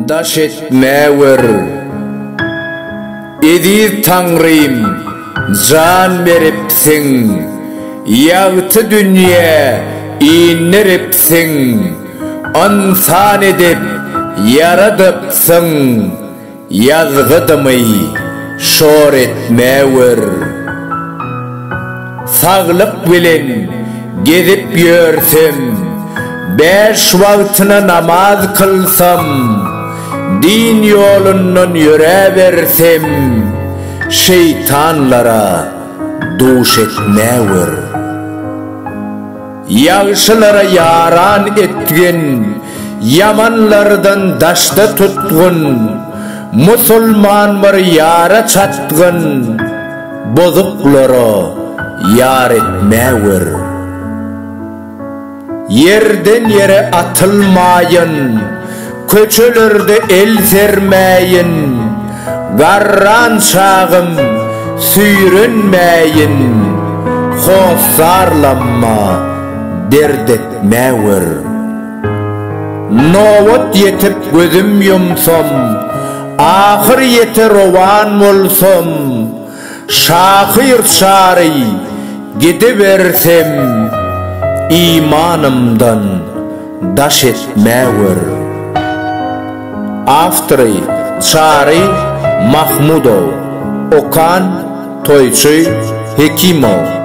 Daş etme ör. Eziz Taňrym, jan beripsiň, ýagty dünýä indiripsiň, ynsan edip ýaradypsyň. Ýazgydymy şor etme ör. Saglyk bilen gezip ýörsem, bäş wagtyna namaz kylsam, din ýolundan ýöräbersem, şeýtanlara duş etme ör. Ýagşylara ýaran etgin, ýamanlardan daşda tutgun, musulman bir ýara çatgyn, bozuklara ýar etmäwer. Ýerden ýere atylmaýyn. Köçelerde el sermäýin, garran çagym, süýrenmäýin, hossarlanma, dert etmäwer. Nobat ýetip gözüm ýumsam, ahyr ýete rowan bolsam, Şahyr çary gidibersem imanymdan daş etmäwer. Awtory, Çary Mahmudow. Okan, Toýçy Hekimow.